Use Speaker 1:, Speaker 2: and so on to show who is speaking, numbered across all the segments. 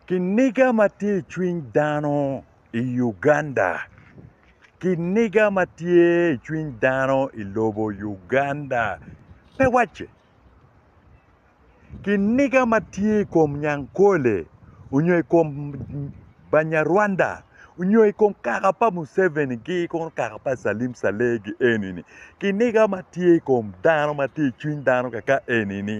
Speaker 1: Kiniga ma tye i cwiny dano i Uganda. Kiniga ma tye i cwiny dano i lobo Uganda pe wacce. Kiniga ma tye i kom Nyankole onyo i kom Banyarwanda onyo i kom kaka pa Museveni gi kono kaka pa Salim Saleh gi eni-ni kiniga ma tye i kom dano ma tye i cwiny dano kaka eni-ni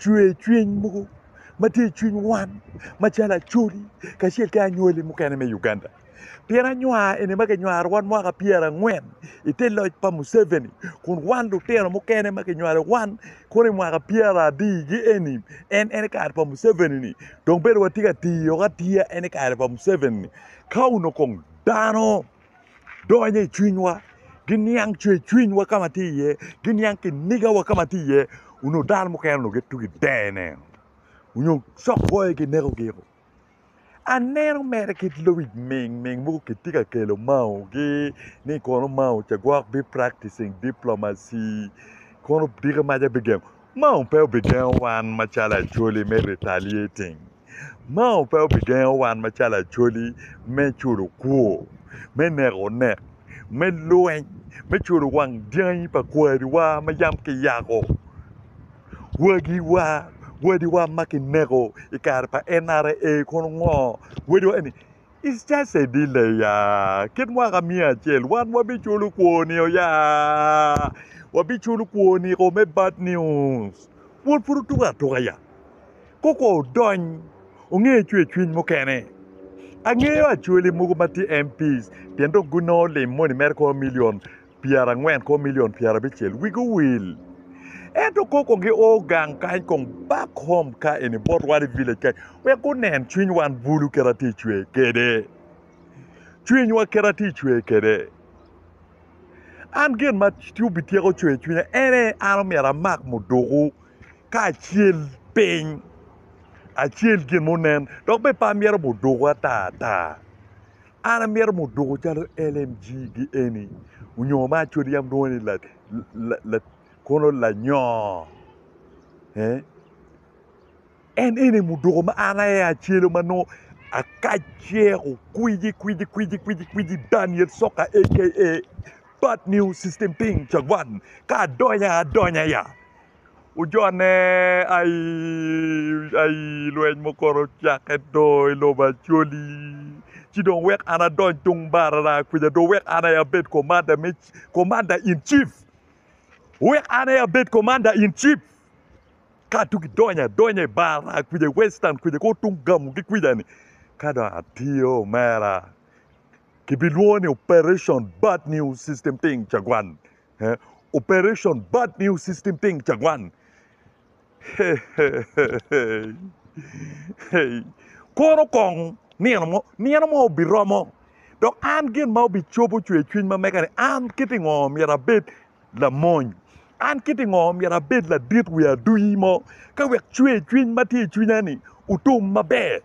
Speaker 1: cwer cwiny mogo ma tye i cwiny wan macalo Acholi kacel ki anywali mukene me Uganda. Pien anywar eni ma kinywaro wan mwaka pyera angwen i te loc pa Museveni kun wan lutino mukene ma kinywalo wan kono i mwaka pyera abii gi eni en en kare pa Museveni ni dong bene watye ka tiyo atiya en kare pa Museveni ni ka onongo kong dano donyo i cwinywa, giniang cwercwinywa ka ma tye iye, giniang kinigawa ka ma tye iye onongo dano mukene onongo gitye ka deyone onyo cokboyo ginekogi. Aneno mere kit lobic mingming mogo kitye ka kelo mao gi ni kono mao ca gwok be practicing diplomacy kono diki maca bigengo mao pe obigengo wan macalo acholi me retaliating. Mao pe obigengo wan macalo Acholi me culo kwor, me neko onek, me lweny, me culo wang dyangi pa kwariwa ma yam kiyako, wagiwa, wadiwa ma kineko i kare pa NRA kono ngo? Wadiwa eni it's just a delay ya, kit mwaka miya acel wan wabiculo kwor nio ya, wabiculo kwor niko me bad news, kwor pud otuko atuka ya. koko odony onge cwer cwiny mukene angeyo acholi mogo matye MP's pien dong gunongo lim moni mere kor million pyera angwen kor million pyera abicel wigi owil ento koko gi o gang kany kong back home ka eni bot wan i village kany wek gunen cwiny wan bulu kit atye cwer kwede cwiny wa kit atye cwer kwede an gin ma obityeko cwer cwinya ene an omyero amak muduku ka acel piny acel gin munen dok bene pe amyero muduku ata ata an amyero muduku calo LMG gi eni onyo ma acwal yam lwongo ni la la kono lanyoo en eni muduku ma an aye acelu ma nongo akac ceko kwiji kwiji kwiji kwiji kwiji Daniel Soka aka bad newsystem ting cawan ka adonya adonya ya Ojonne aii lweny mukoto ocakke do i lobo Acholi ci dong wek an adony tung barara kwica do wek an aye abed komanda me komanda in cif wek an aye abed komanda in cif ka tung idonyo adonya i barara kwica i western kwica kong tung gamugi kwica-ni ka dong atiyo omera kibilwongo ni operation bad news system thing cagwan Operation Bad News System Ting Cagwan. Kono kong nino mo, nino mo obiromo dok an gin ma obicobo cwer cwiny ma mega ni an kiti ngo myero abed lamony. An kiti ngo myero abed ladit wi aduyi mo ka wek cwer cwiny ma tye i cwinya ni otum maber.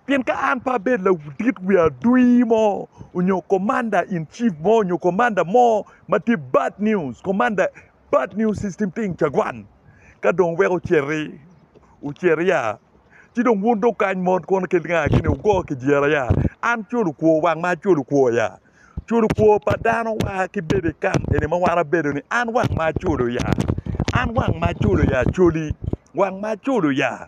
Speaker 1: Pien ka an pe abedo laudit wi adui mo onyo Commander in Chief mo onyo Commander mo ma tye bad news, Commander bad news system ting cagwan. Ka dong weko oceti, oceti ya. Ci dong wun dong kany mot kono kit nga kini wugo kijira ya. An culu kwo wang ma culu kwo ya. Culu kwo pa dano wa ki bedo i kam eni ma wan abedo ni an wang ma culu ya. An wang ma culu ya culi. Wang ma culu ya.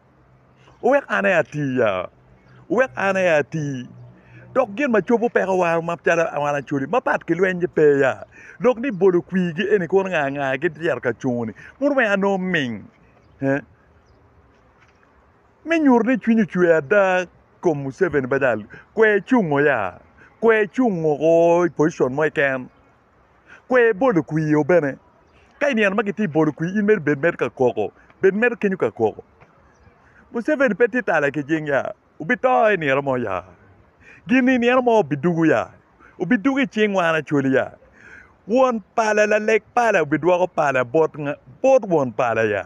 Speaker 1: wek an aye ati ya, wek an aye ati. Dok gin ma cobo peko war macalo wan Acholi mapat ki lweny-nyi pe ya, dok ni bolo kwirgi eni kuru nga nga aye gityero ka cungo-ni bino miyo anongo ming me nyuto ni cwiny ocwe ada i kom Muceveni kwe cungo ya, kwe cungo woko i pocicon mo keken. kwe ibolo kwir o bene ka inino ma kitye bolo kwir in mere bed mere ka koko bed mere kenyo ka koko Museveni pe tye tala ki cing ya obito i nino mo ya gin i nino mo obidugo ya obidugo i cing wan Acholi ya won pala laleg pala obidwoko pala bot won pala ya.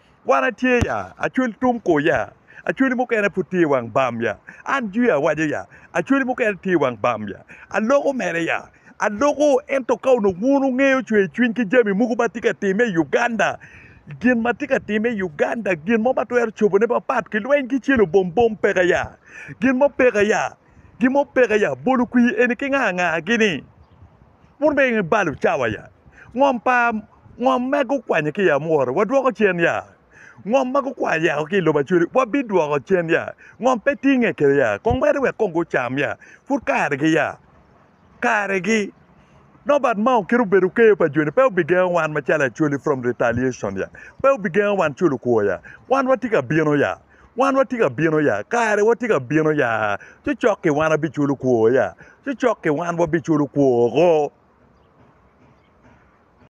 Speaker 1: Wan atye ya, acwali tung kor ya, acwali mukene pud tye i wang bam ya, an jwi awaco ya, acwali mukene tye i wang bam ya, aloko mere ya, aloko, ento ka onongo wun wungeyo cwer cwiny ki jami mogo ma tye ka timme i Uganda, gin ma tye ka timme i Uganda, gin mo ma twero cobone mapat ki lweny ki celo bom bom peke ya, gin mo peke ya, gin mo peke ya, bolo kwir eni ki nga nga gini. Wun bene ibalo cawa ya? Ngom pa ngom ma gukwanyo ki i amwora wadwoko cen ya? Ngom ma gukwanyo yako ki i lobo acwele wabidwoko cen ya? Ngom pe tinge kede ya? Kong mere wek kong gucam ya? Pud karegi ya? Karegi! Nobat ma okito obedo keyo pa joni pe obigengo wan macalo Acholi from retaliation ya? Pe obigengo wan culo kwor ya? Wan watye ka bino ya? Wan watye ka bino ya, kare watye ka bino ya, cocok-ki wan wabiculo kwor ya, cocok-ki wan wabiculo kwor-ro.